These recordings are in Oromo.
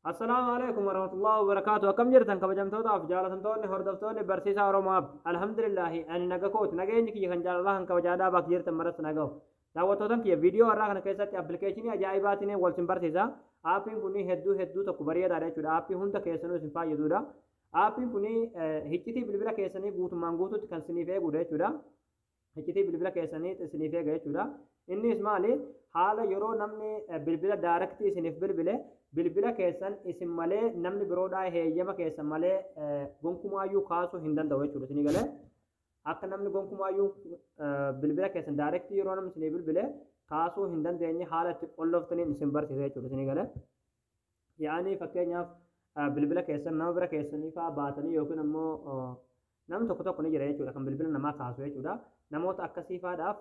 Assalaamu alaikum warahmatullahi wabarakaatu akkam jirtan kabajamtootaaf jaalatamtoonni hordoftoonni barsiisaa Oromoaf alhamdulillahi ani naga kooti nageenyi kiyya kan jaalalaa kan kabajaadhaa bakka jirtan maratti nagahu daawwattootan kiyya viidiyoo har'aa kana keessatti appilikeeshinii ajaa'ibaatiin wal sin barsiisa aappiin kun hedduu hedduu tokko bareedaadha jechuudha aappii hunda keessanuu isin fayyadudha aappiin kun hiccitii bilbila keessanii guutummaan guutuutti kan siniif eegudha jechuudha hiccitii bilbila keessanii isiniif eega jechuudha. Innis maali haala yeroo namni bilbila daaraktii isiniif bilbile bilbila keessan isin malee namni biroodhaa heeyyama keessan malee gonkumaayyuu kaasuu hin danda'u jechuudha isinii galee. Akka namni gonkumaayyuu bilbila keessan daaraktii yeroo namni isinii bilbile kaasuu hin dandeenye haala itti qolloftaniin isin barsiisa jechuudha isinii galee. yaa'anii fakkeenyaaf ah, bilbila keessan nama bira keessanii fa'aa baatanii yookiin ammoo ah, namni tokko tokko ni jira jechuudha kan bilbila namaa kaasu jechuudha namoota akkasii fa'aadhaaf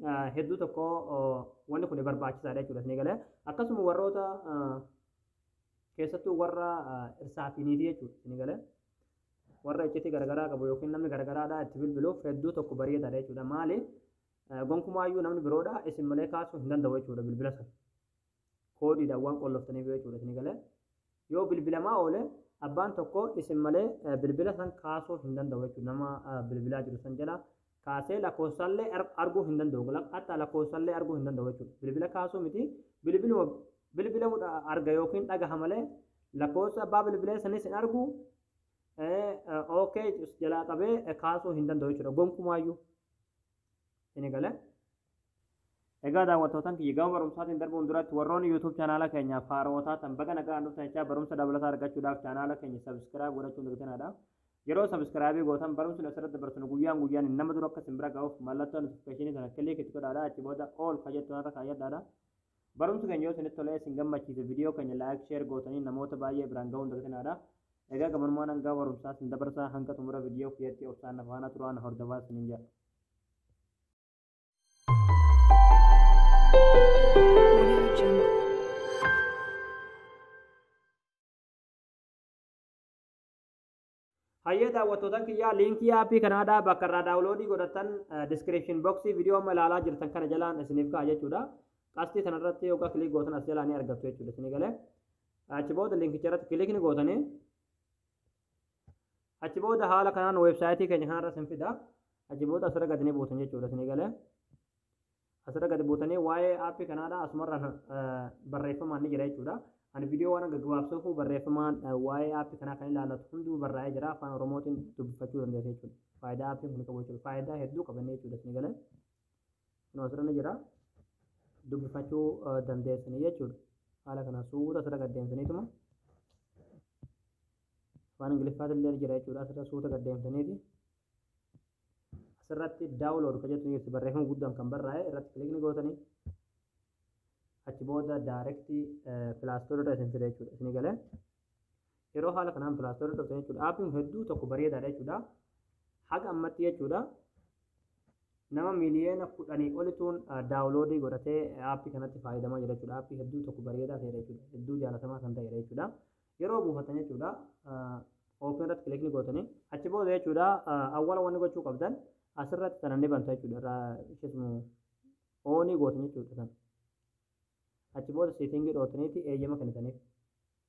ah, hedduu tokko ah, wanni kun barbaachisaadha jechuudha isinii galee akkasuma warroota ah, keessattuu warra ah, irsaatiiniitii jechuudha isinii galee warra iccitii garagaraa qabu yookiin namni garagaraadhaa itti bilbiluuf hedduu tokko bareedaadha jechuudha maali Eh, gonkumaayyuu namni biroodhaa isin malee kaasuu hin danda'u jechuudha bilbila sana koodiidhaan waan qolloftaniif jechuudha isin galee yoo bilbilamaa oole abbaan tokko isin malee bilbila san kaasuu hin danda'u jechuudha nama bilbilaa jiru san jala kaasee lakkoofsaallee arguu hin danda'u hatta lakkoofsaallee arguu hin danda'u jechuudha bilbila kaasuu miti bilbiluma bilbilamu arga yookiin dhagaha malee lakkoofsa abbaa bilbilee sanis hin argu ookee jalaa qabee kaasuu hin danda'u jechuudha gonkumaayyuu. Isinii galee? Egaa daawwattootan kiyya gama barumsaatiin darbuun duratti warroonni YouTube chaanaala keenyaaf haarawa taatan baga nagaan dhuftan jechaa barumsa dabalataa argachuudhaaf chaanaala keenya subscribe godhachuu hin dagtinaadha. Yeroo subscribe gootan barumsni asirratti dabarsinu guyyaan guyyaan nama dura akka isin bira ga'uuf mallattoo notification sana click itti godhaadha achi booda all ka jettu irra kaayyadhaadha. Barumsi keenya yoo isinitti tolee isin gammachiise viidiyoo keenya like share gootanii namoota baay'ee biraan ga'uu hin dagtinaadha. Egaa gabanumaan hangaa barumsaa isin dabarsaa hanga xumura viidiyoo kiyyatti obsaan na faana turaa na hordofaa isiniin jedha. Hayyee daawwattootan kiyyaa liinkii aappii kanaadhaa bakka irraa daawuloodii godhatan diskiripshin boksii viidiyoo amma ilaalaa jirtan kana jalaan isiniif ka'a jechuudha. Qastii sanarratti yookaan kilik gootan as jalaa ni argattu jechuudha isinii galee. Achi booda liinkicha irratti kilik ni gootanii Achi booda haala kanaan weebsaayitii keenya kanarra isin fida. Achi booda asirra gadi ni buutan jechuudha isin eegalee. Asirra gadi buutanii waa'ee aappii kanaadha asumarra barreeffamaan ni jira jechuudha. Ani viidiyoo waan gaggabaabsuuf barreeffamaan waa'ee aappii kanaa kan ilaallatu hunduu barraa'ee jira afaan oromootiin dubbifachuu dandeessa jechuudha. Faayidaa aappiin kun qabu jechuudha. Faayidaa hedduu qabanne jechuudha isin eegalee. Kun asirra ni jira. Dubbifachuu dandeessanii jechuudha. Haala kana suuta asirra gad deemtaniituma afaan Ingiliffaatti illee jira jechuudha. Asirra suuta gad deemtaniiti. Asirratti daawulood kan jettu jirti barreeffama guddaan kan barraa'e irratti kilikni gootanii achi booda daayirektii pilaastoorri irra isin fida jechuudha. Isin galee Yeroo haala kanaan pilaastorii dhuftan jechuudha. Aappiin kun hedduu tokko bareedaadha jechuudha. Haga ammatti jechuudha. Nama miliyoona kudhanii olituun daawuloodii godhatee aappii kanatti fayyadamaa jira jechuudha. Aappii hedduu tokko bareedaa ta'edha jechuudha. Hedduu jaalatamaa kan ta'edha jechuudha. Yeroo buufatan jechuudha. Oopin irratti kilikni gootanii achi booda jechuudha. Awwala wanni gochuu qabdan asirratti sana ni banta jechuudha. Irraa isheesmu oonii gootan jechuudha sana. Achi booda seetingii dhootaniiti eeyyama kennitaniif.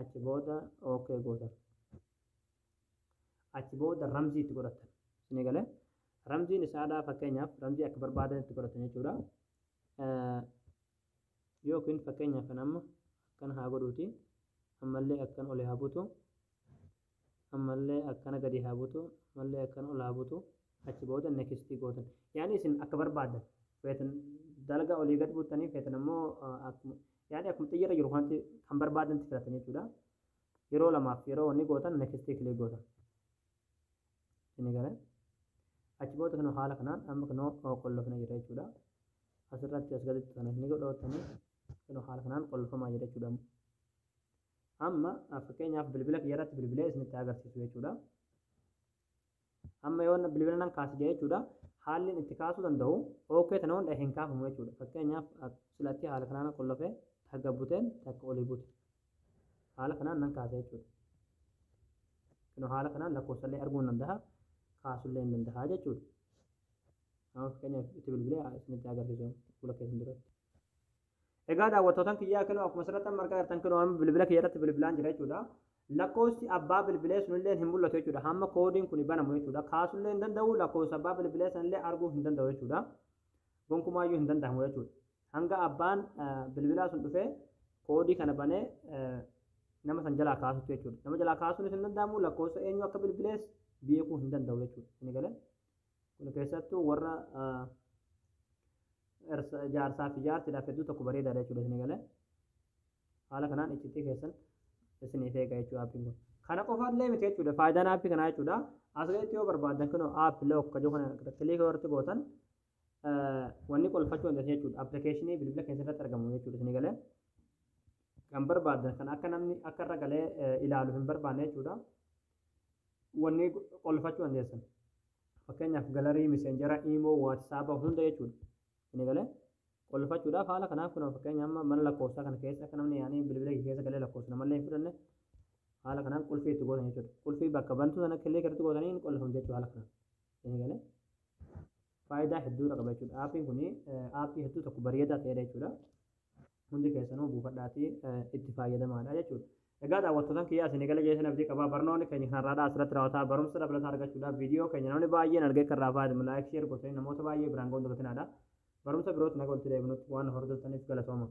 achi booda ok gootan achi booda ramzii itti godhatan isin gale ramziin isaadhaa fakkeenyaaf ramzii akka barbaadan itti godhatan jechuudha yookiin fakkeenyaaf kan amma akkan haa godhuuti ammallee akkan olee haa butu ammallee akkana gadi haa butu ammallee akkana ol haa butu achi booda next gootan yaani isin akka barbaadan feetan dalga olii gad buttanii feetan ammoo akkuma yaani akkuma xiyyarra jiru kanatti kan barbaadan filatan jechuudha yeroo lamaaf yeroo wanni gootan next kilee gootan isin gara achi booda kan haala kanaan amma kan qollofna jira jechuudha asirratti as gaditti kan ni godhootanii kan haala kanaan qollofamaa jira jechuudha Amma fakkeenyaaf bilbila kiyya irratti bilbilee isinitti agarsiisu jechuudha. Amma yoo bilbila nan kaasi jedhe jechuudha. Haalli itti kaasuu danda'u OK tana hunda hin kaafamu jechuudha. Fakkeenyaaf silatti haala kanaan qollofee takka buteen takka olii bute. Haala kanaan nan kaasa jechuudha. Kun haala kanaan lakkoofsallee arguu nan danda'a kaasullee hin danda'a jechuudha. Amma fakkeenyaaf itti bilbilee isinitti agarsiisu fuula keessan duratti. Egaa daawwattootan kiyyaa kinoo akkuma asirratti amma argaa jirtan kinoo amma bilbila kiyya irratti bilbilaan jira jechuudha. Lakkoofsi abbaa bilbilee sunillee hin mul'atu jechuudha. Hamma koodiin kun banamu jechuudha. Kaasullee hin danda'u lakkoofsa abbaa bilbilee sanillee arguu hin danda'u jechuudha. Gonkumaayyuu hin danda'amu jechuudha. Hanga abbaan bilbilaa sun dhufee koodii kana banee nama san jalaa kaasutti jechuudha. Nama jalaa kaasuunis hin danda'amu lakkoofsa eenyu akka bilbilees beekuu hin danda'u jechuudha. Inni galee. Kun keessattuu warra jaarsaa fi jaartiidhaaf hedduu tokko bareedaadha jechuudha isin eegalee. Haala kanaan iccitii keessan isiniif eega jechuudha aappiin kun. Kana qofa illee miti jechuudha faayidaan aappii kanaa jechuudha. As gaditti yoo barbaaddan kunoo app lock kan jiru kana kiliika irratti gootan wanni qolfachuu dandeessan jechuudha. Appilikeeshinii bilbila keessa irratti argamu jechuudha isin eegalee. Kan barbaaddan kan akka namni akka irra galee ilaalu hin barbaanne jechuudha. wanni qolfachuu dandeessan fakkeenyaaf galarii miseenjera imoo waatisaaba hunda jechuudha inni galee qolfachuudhaaf haala kanaaf kun fakkeenya amma mana lakkoofsaa kana keessa akka namni yaanii bilbila kee keessa galee lakkoofsa namallee hin fudhanne haala kanaan qulfii itti gootan jechuudha qulfii bakka bantuu sana killee irratti gootanii hin qolfamu jechuu haala kanaan inni galee faayidaa hedduudha qaba jechuudha aappiin kun aappii hedduu tokko bareedaa ta'edha jechuudha Hundi keessanuu buufadhaatii itti faayyadamaadha jechuudha. Egaa daawwattootan kiyyaa isin eegala jeesan abdii qabaa barnoonni keenya kan har'aadhaa asirratti raawwataa barumsa dabalataa argachuudhaaf viidiyoo keenya namni baay'een argee kan irraa fayyadamu laayik sheer gootanii namoota baay'ee biraan ga'uun dagatinaadha. Barumsa birootti naga walitti deebinutti waan hordoftaniif galatooma.